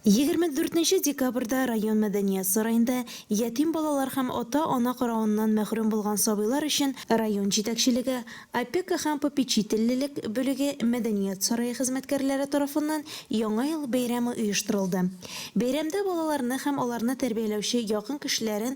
Егерме дүртенче декабрьдә район мәдәният сараенда ятим балалар һәм ата-ана каравыннан мәхрүм булган сабыйлар өчен район җитәкчелеге, опека һәм попечительлелек бүлеге, мәдәният сарае хезмәткәрләре тарафыннан Яңа ел бәйрәме оештырылды. Бәйрәмдә балаларны һәм аларны тәрбияләүче якын кешеләрен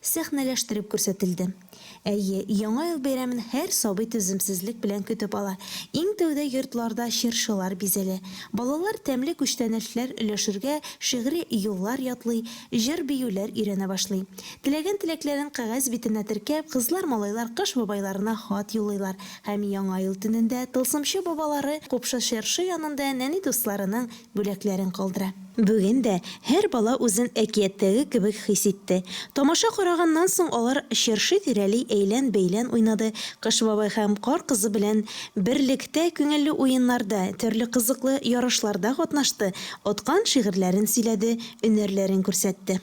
сәхнәләштереп күрсәтелде. Әйе, Яңа ел бәйрәмен һәр сабый түземсезлек белән көтеп ала. Иң тәүдә йортларда чыршылар бизәлә. Балалар тәмле күчтәнәчләр өләшергә, шигъри юллар ятлый, җыр-биюләр өйрәнә башлый. Теләгән теләкләрен кәгазь битенә теркәп, кызлар-малайлар Кыш бабайларына хат юллыйлар һәм Яңа ел төнендә Тылсымчы бабалары Купшы чыршы янында нәни дусларының бүләкләрен калдыра. Бүген дә һәр бала үзен әкияттәге кебек хис итте. Тамаша караганнан соң алар чыршы тирәли әйлән-бәйлән уйнады, Кыш бабай һәм Кар кызы белән берлектә күңелле уеннарда, төрле кызыклы ярышларда катнашты, откан шигырьләрен сөйләде, өнәрләрен күрсәтте.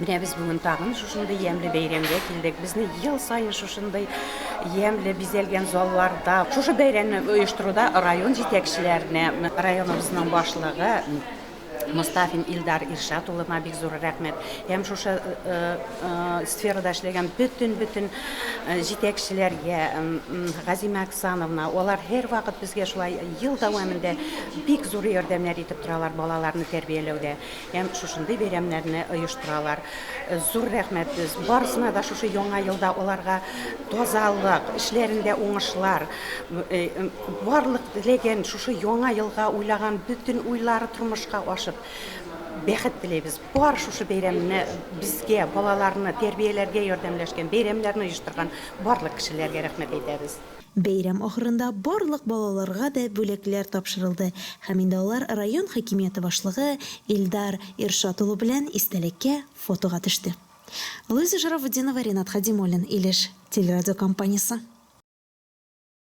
Менә без бүген тагын шушындый ямьле бәйрәмгә килдек. Безне ел саен шушындый ямьле бизәлгән залларда, шушы бәйрәмне оештыруда район җитәкчеләренә, районыбызның башлыгы Мостафин Илдар Иршат улына бик зур рәхмәт. Һәм шушы сферада эшләгән бөтен-бөтен җитәкчеләргә, Газимә Оксановна, алар һәрвакыт безгә шулай ел дәвамында бик зур ярдәмнәр итеп торалар балаларны тәрбияләүдә. Һәм шушындый бәйрәмнәрне оештыралар. Зур рәхмәт барысына да шушы яңа елда аларга тазалык, эшләрендә уңышлар, барлык теләгән шушы яңа елга уйлаган бөтен уйлары тормышка ашып, бәхет теләйбез. Бар шушы бәйрәмне безгә, балаларны тәрбияләргә ярдәмләшкән, бәйрәмнәрне оештырган барлык кешеләргә рәхмәт әйтәбез. Бәйрәм ахырында барлык балаларга да бүләкләр тапшырылды һәм инде алар район хакимияте башлыгы Илдар Иршат улы белән истәлеккә фотога төште. Луиза Шарафутдинова, Ренат Хадимуллин, Илеш телерадиокомпаниясе.